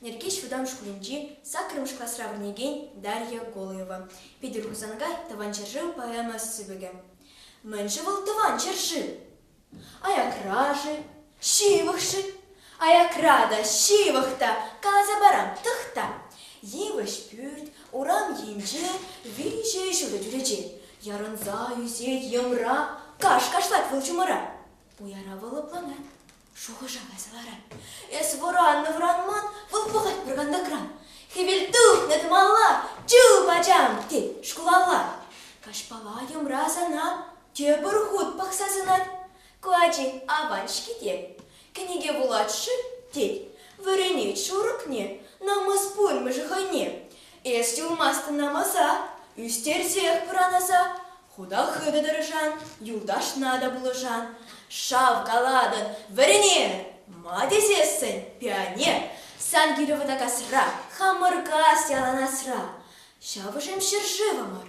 Нӗркеҫ вӑтам шкулӗнчи саккӑрмӗш класра вӗренекен Дарья Голаева, Питӗр Хусанкай Тӑван ҫӗршыв поэма сыпӑкӗ. Мӗн-ши вӑл Тӑван ҫӗршыв? Аякра-ши? Ҫывӑхшӑн, аякра та, ҫывӑх та, каласа парам, тӑхта. Йывӑҫ пӳрт, урам енче виҫӗ ҫутӑ чӳрече ярӑнса ӳсе йӑмра каш кашлать вӑл чумӑра. Уяра вӑл лӑпланать, шухӑша кайса ларать. Эс вӑраннӑ-вӑранман вӑл пӑхать пӑркантакран. Хӗвел тухнӑ тӑмалла, чуп ачам, тет шкулалла. Каҫпала йӑмра сана тепӗр хут пӑхса сӑнать. Ку ачи аван-ҫке тет. Кӗнеке вулать-ши? тет. Вӗренет шурӑкне, намӑс пулмӗ-ши хӑйне? Эс юлмастӑн намӑса, ӳстерсех пӑранаса. Хута хытӑ тӑрӑшан, юлташна та пулӑшан. Шав калатӑн, вӗренер! Ма тесессӗн, пионер, сан килӗ вӑтакасра, хамӑр кас яланасра. Ҫавӑшем ҫӗршывӑмӑр.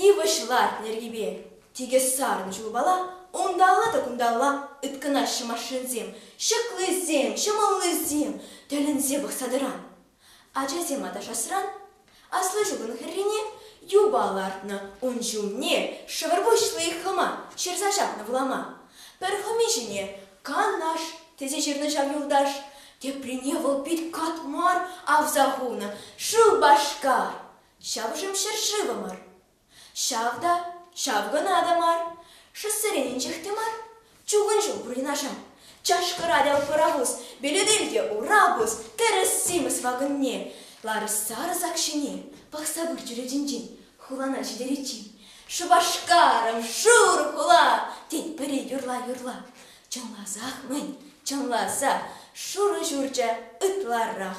Йывӑҫ ларт йӗркипе тикӗс сарнӑ чулпала, унталла та кунталла ыткӑнаҫҫӗ машинсем, ҫӑклисем, ҫӑмӑллисем тӗлӗнсе пӑхса тӑран. Ачасем аташасран аслӑ ҫулӑн хӗррине юпа лартнӑ, ун ҫумне шӑпӑр пуҫли хӑма ҫырса ҫапнӑ влама. Пӗр хӑми ҫине Канаш тесе ҫырнӑ ҫав юлташ, теприне вӑл пит кат мар авса хунӑ, шыв Башкар! Ҫавӑшӑм ҫӗршывӑмӑр. Ҫав та, ҫав кӑна та мар, шоссерен инҫех те мар, чукун ҫул пурӑнашар, чашкӑрать-ал пӑрахус, белетелте урапус, тӗрӗс-симӗс вакӑнне, ларӑс-сарӑс ак ҫине пӑхса выр чӳречинчен хулана ҫитериччен Шупашкарӑн шур хула тетпӗри юрла-юрла чӑнласах-мӗн, чӑнласа шурӑ ҫурчӗ ытларах.